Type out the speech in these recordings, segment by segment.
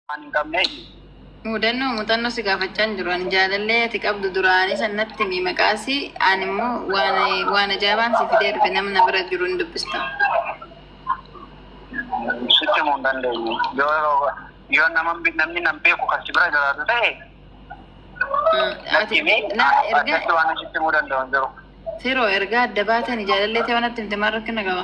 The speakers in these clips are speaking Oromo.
waan hin qabneef. Mudannoo muuxannoo si gaafachaa hin jiru. Ani jaalallee ati qabdu duraanii san natti himi maqaasi. Ani immoo waan waan ajaa'ibaan si fidee dhufe nama na bira jiru hin dubbista. Sitti himuu hin dandeenye. Yoo yoo nama namni nan beeku kan si bira jiraatu ta'e Mm, natti Ati himi. na erga Addatti waan ani sitti himuu danda'u hin jiru. firoo erga adda baatanii jaalallee ta'e waan natti himte maal rakkina qaba?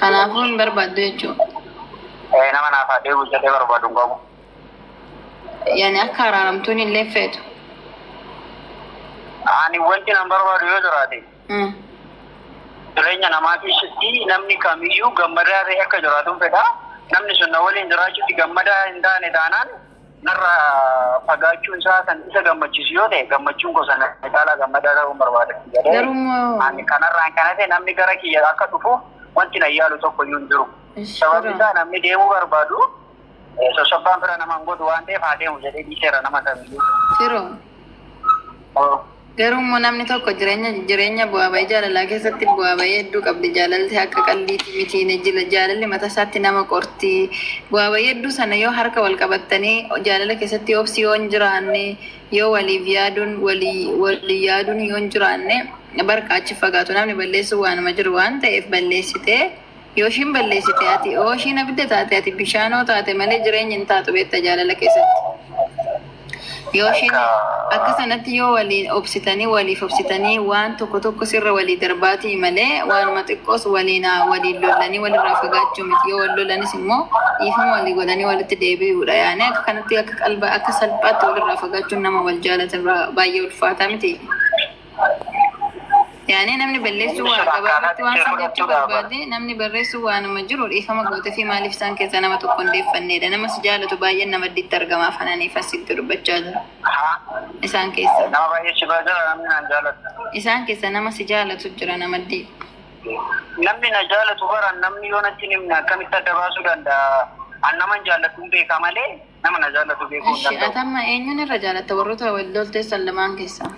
Kanaafuu hin barbaaddu jechuudha. Ee, nama naaf haa deebi'u jedhee barbaadu hin qabu. Yani akka araaramtuun illee feetu. Ani wanti nan barbaadu yoo jiraate Hmm. jireenya namaa keessatti namni kamiyyuu gammadaa ta'e akka jiraatuun fedha. Namni sun na waliin jiraachuutti gammadaa hin taane taanaan Narra fagaachuun isaa kan isa gammachiisu yoo ta'e gammachuun koo sana caalaa gammadaa ta'uun barbaada. Ani kanarraan kan hafe namni gara kiyya akka dhufu wanti na yaalu tokko iyyuu hin jiru. Sababni isaa namni deemuu barbaadu sossobbaan fira nama hin godhu waan ta'eef haa deemu jedhee dhiiseera nama kamiyyuu. Garuu immoo namni tokko jireenya jireenya bu'aa ba'ii jaalalaa keessatti bu'aa ba'ii hedduu qabdi. Jaalalli akka qaldiitti miti hin ejjila. Jaalalli mataa isaatti nama qorti. Bu'aa ba'ii hedduu sana yoo harka wal qabattanii jaalala keessatti obsi yoo hin jiraanne yoo waliif yaaduun walii walii yaaduun yoo hin jiraanne barqa achi fagaatu namni balleessu waanuma jiru waan ta'eef balleessitee Yoo ishiin balleessite ati, oo ishiin abidda taate ati bishaanoo taate malee jireenyi hin taatu beekta jaalala keessatti. Yoo ishiin akka sanatti yoo waliin obsitanii waliif obsitanii waan tokko tokko sirra walii darbaatii malee waanuma xiqqoos waliin waliin lollanii walirraa fagaachuu miti yoo wal lolanis immoo dhiifama walii godhanii walitti deebi'uudha yaani akka kanatti akka qalba akka salphaatti walirraa fagaachuun nama wal jaalate irraa baay'ee ulfaataa miti. Yaani namni balleessuu waa gabaabatti waan san jechuu barbaade namni barreessuu waanuma jiru dhiifama gootefii maaliif isaan keessaa nama tokko hin deeffanneedha nama si jaalatu baay'een na maddiitti argama afanani fassitti dubbachaa jira isaan keessaa Nama baay'ee si bira jira namni naan jaalatu. isaan keessaa nama si jaalatu jira na maddii Namni na jaalatu bara namni yoo natti hin himne akkamitti adda baasuu danda'a? An naman jaalladhu hin beeka malee Nama na jaallatu beekuu hin Ishi danda'u. atamma eenyuun irra jaalatta warroota wal lolteessan lamaan keessaa?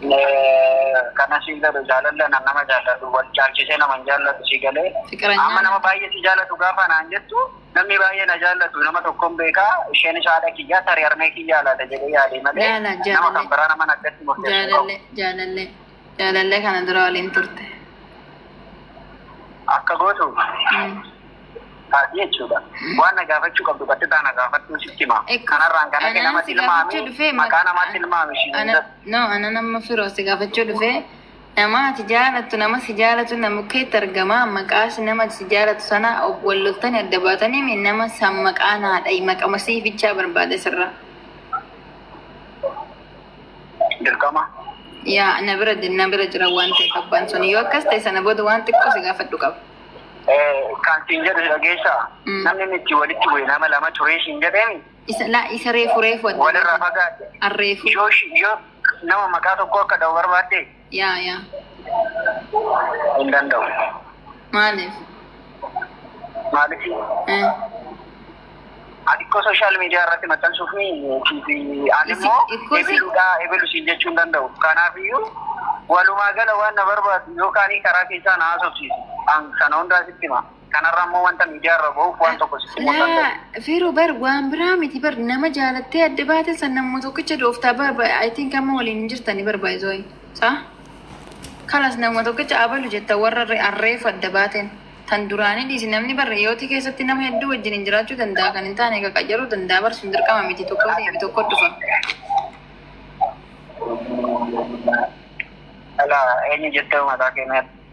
Eh, Kana siin jedhu jaalalli anan nama jaallatu wal caalchisee nama hin jaallatu si galee. Fiqiranyaan- Amma nama baay'ee si jaallatu gaafa naan jettu namni baay'ee na jaallatu nama tokkoon beekaa isheenis haadha kiyyaa tarii harmee kiyyaa laata jedhee yaadee malee Laala, nama jaalallee. kan biraa nama naggatti murteessu hin qabu. Jaalallee jaalallee. Jaalallee kana dura waliin turte. Akka gootu Mm. taati jechuudha. Waan na gaafachuu qabdu qaxxitaa na gaafadhu sitti hima. Ek- Kanarraan kan hafe Anaan nama si gaafachuu tilmaami. dhufee ma- Maqaa namaa an- tilmaami. ishii ana- hunda. No, ana nama firoo si gaafachuu dhufe nama ati jaalattu nama si jaalatu nama keetti argama maqaa si nama si jaalatu sana ob- wal loltanii adda baatanii mi nama san maqaa naadha maqama sii bichaa barbaade sirraa. Dirqama. Yaa na bira na bira jira waan ta'eef abbaan sun yoo akkas ta'e sana booda waan xiqqoo si gaafadhu qaba. Kan siin jedhu dhageessaa Mm. namni inni itti walitti bu'e nama lama turee siin jedheemi Isa laa isa reefu reefu adda walirraa baasa. fagaate. Arreefu. Yoo shi- yoo nama maqaa tokko akka dha'u barbaadde Yaa yaa hin danda'u. maaliif? Maaliif Eh, ati koo sooshaal miidiyaa irratti maxxansuuf ni ani immoo Ikko si- ebeluudhaa ebelu siin jechuu hin danda'u. Kanaafiyyuu walumaa gala waan na barbaadu yookaan karaa keessaa na haasofsiisu. An sana hundaa sitti hima. Kanarra immoo wanta miidiyaa irra bahuuf waan tokko sitti himuu Laa danda'u. Feeroo bar waan biraa miti bar nama jaalattee adda baate san namuma tokkicha dooftaa bar bar- I think amma waliin hin jirtani bar by the way. Saa? Kalas namuma tokkicha abalu jetta warra re- arreef adda baateen. Tan duraanii dhiisi namni bar hiyootii keessatti nama hedduu wajjin hin jiraachuu danda'a kan hin taane egaa qacaruu danda'a bar sun dirqama miti tokko deebi tokko dhufa. Ala eenyu jettee mataa keenyaa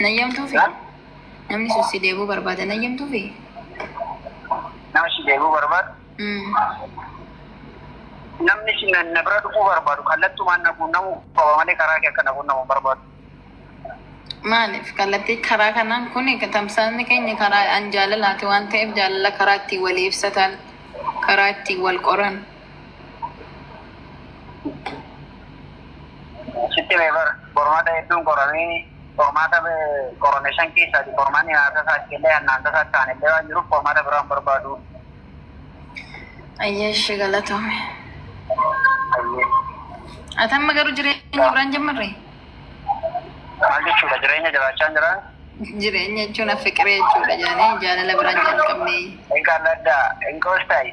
Nayyamtuu fi namni sun si deebuu barbaada. Nayyamtuu fi Nama si deebuu barbaadu. Namni si na na bira dhufuu barbaadu kallattumaan na quunnamuu qaba malee karaa kee akka na quunnamu hin barbaadu. maaliif kallattii karaa kanaan kun tamsaasni keenya karaa an jaalalaati waan ta'eef jaalala karaa ittiin walii ibsatan karaa ittiin wal qoran Sitti mee bara qormaata hedduun qoramee qormaata qorame shan keessaati qormaanni naasa isaatti illee hannaansa isaatti ta'an illee waan jiruuf qormaata biraan barbaadu. Ayyee ishee galatoome. Ayyee. Ati amma garuu jireenya biraan jammarre? Maal jechuudha jireenya jiraachaa hin jiraan? Jireenya jechuun affiqiree jechuudha jaanee jaalala biraan jalqabnee. Egaa laddaa hin qoostaayi.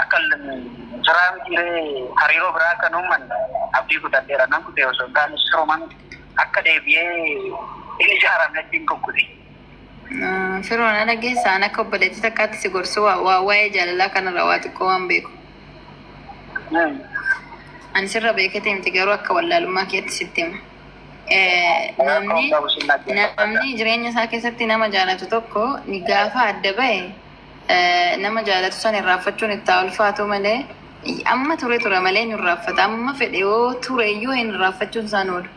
Akka jiraa miti ree hariiroo biraa akka hin uummanne abdii kutadheera nan kutee osoo hin taane siruma miti akka deebi'ee hin ijaaramnetti hin kukkute. Firoo na dhageessa an akka obboleettii takkaatti si gorsu wa- wa- waa'ee jaalalaa kanarra waa xiqqoo waan beeku. Ani sirra beeketee miti garuu akka wallaalummaa keetti sitti hima. namni jireenya isaa keessatti nama jaalatu tokko ni gaafa adda ba'e nama jaalatu san irraaffachuun itti haa ulfaatu malee amma ture tura malee hin irraaffata amma fedhe yoo ture iyyuu hin irraaffachuun isaan oolu.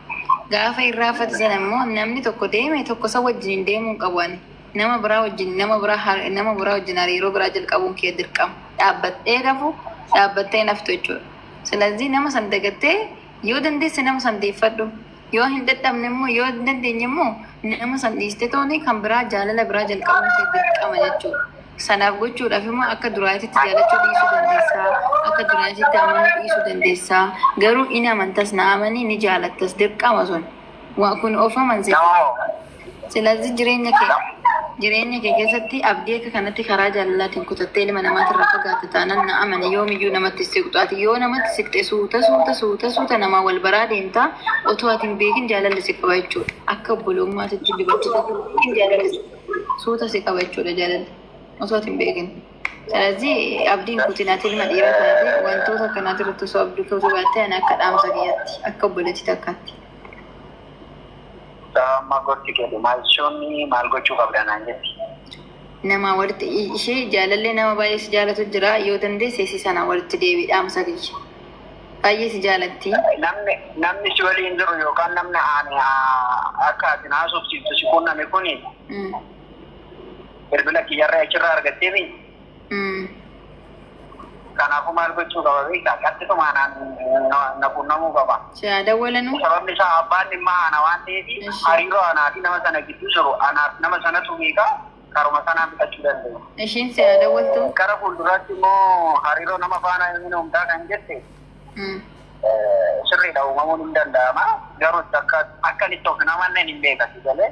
Gaafa irraaffatu sana immoo namni tokko deeme tokko isa wajjin hin deemuu hin qabu ani. Nama biraa wajjin nama biraa nama biraa wajjin hariiroo biraa jalqabuun kee dirqama. Dhaabbattee rafu dhaabbattee naftu jechuudha. Silazii nama san dagattee Yoo dandeesse nama san deeffadhu. Yoo hin dadhabne immoo yoo hin dandeenye immoo nama san dhiiste tooni kan biraa jaalala biraa jalqabuun kee dirqama jechuudha. Sanaaf gochuudhaaf immoo akka duraatitti jaalachuu dhiisuu dandeessaa, akka duraatitti amanuu dhiisuu dandeessaa. Garuu in amantas na amanii ni jaalattas dirqama sun. Kun of amansiisa. Silazii jireenya kee jireenya kee keessatti abdii akka kanatti karaa jaalalaatiin kutattee ilma namaatirraa fagaatte taanaan na amani yoomiyyuu namatti hin siqxu. Ati yoo namatti siqxe suuta suuta suuta suuta namaa wal baraa deemta otoo ati hin beekin jaalalli si qaba jechuudha. Akka obbolummaatitti dubartii tokko hin beekin jaalalli suuta si qaba jechuudha jaalalli otoo ati hin beekin. Silazii abdii hin kutin ati ilma dhiiraa taate wantoota akkanaatirratti osoo abdii kutuu baattee ani akka dhaamsa kiyyaatti akka obboleettii takkaatti. Mucaa amma gorsi keeti maal isheen maal gochuu qabda naan jetti. Namaa walitti ishee jaalallee nama baay'ee si jaalatu jira yoo dandeesse si sana walitti deebi'i dhaamsa kiyya. Baay'ee si jaalatti. Namni namni si waliin jiru yookaan namni ani haa- akka ati na haasofsiiftu si quunname kuni bilbila kiyyarra achirraa argattee mii? Kanaafuu maal gochuu qaba beektaa? Qaxxituma anaan na quunnamuu qaba. Si haa dawwalanuu? Sababni isaa abbaan dhimmaa ana waan ta'eef hariiroo anaa fi nama sana gidduu jiru anaa fi nama sanatu beeka, karuma sanaan fixachuu dandeenya. Ishiin si haa dawwaltuu? Gara fuulduraatti immoo hariiroo nama faana hin uumtaa kan jette sirriidha uumamuun hin danda'ama. Garuu akkan itti of hin amanne hin beeka si galee.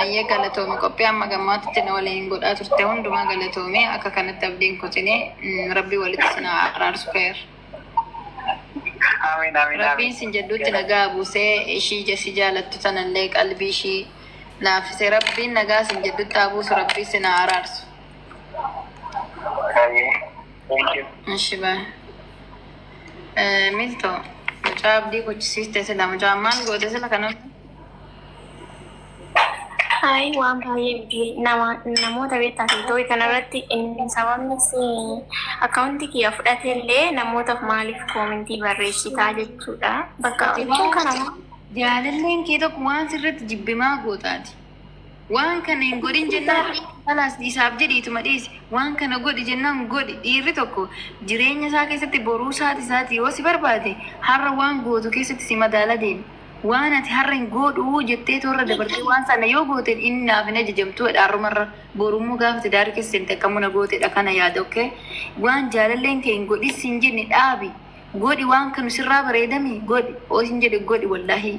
Ayyee galatoomi qophii amma gammaatitti na waliin godhaa turte hundumaa galatoomee akka kanatti abdiin kutinee mm, rabbi walitti sin haa araarsu keer. Amiin amiin Rabbiin sin jedhuutti nagaa buusee ishii jesi jaalattu tanallee qalbii ishii laafisee rabbiin nagaa sin jedhutti haa buusu rabbii sin haa araarsu. Thank you. Ishi baa. Eh, Milto, mucaa abdii gochisiiste sila mucaan maal goote sila kana Hayi waan baay'ee miti nama namoota beektaa tiktooki kanarratti inni sababni si akkaawuntii kiyya fudhate illee namootaaf maaliif koomentii barreessitaa jechuudha. Bakka jechuun kana jaalalleen kee tokko waan sirratti jibbimaa gootaati. Waan kana hin godhin jennaan kalaas isaaf jedhi ituma dhiisi. Waan kana godhi jennaan godhi. Dhiirri tokko jireenya isaa keessatti boruu isaati isaati yoo si barbaade har'a waan gootu keessatti si madaala deema. Waan ati har'a hin goodhuu jettee toorra dabartee waan sana yoo goote inni naaf hin ajajamtuu jedha har'umarra. Borummoo gaafa tidaari keessa seente akkamuu na gootedha kana yaada ok. Waan jaalalleen kee hin godhin sin jenne dhaabi. Godhi waan kanu sirraa bareedami godhi. Osin jedhe godhi wallaahii.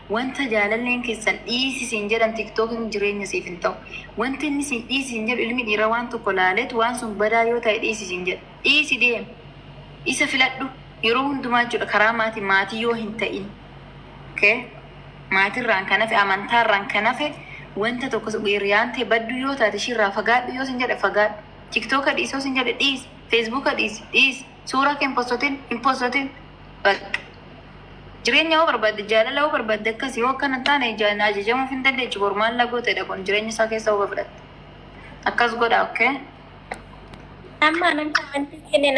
Wanta jaalalleen keessan dhiisi siin jedhan tiktokin jireenya siif hin ta'u. Wanti inni siin dhiisi siin jedhu ilmi dhiiraa waan tokko laaleet waan sun badaa yoo ta'e dhiisi siin jedha. Dhiisi deemi. Isa filadhu. Yeroo hundumaa jechuudha karaa maatiin maatii yoo hin ta'in. Okay? Maatirraan kan hafe amantaarraan kan hafe wanta tokko hiriyaan ta'e badduu yoo taate ishiirraa fagaadhu yoo siin jedhe fagaadhu. Tiktoka dhiisi yoo siin jedhe dhiisi. Feesbuuka dhiisi dhiisi. Suuraa kee hin postotin, hin postotin. Bakka. Jireenya yoo barbaadde, jaalala yoo barbaadde akkasi yoo akkana hin taane ijaan ajajamuuf hin dandeechu bor maal na gootedha kun jireenya isaa keessa huba fudhatte. Akkas godhaa okay. Amma anan koomentii kenne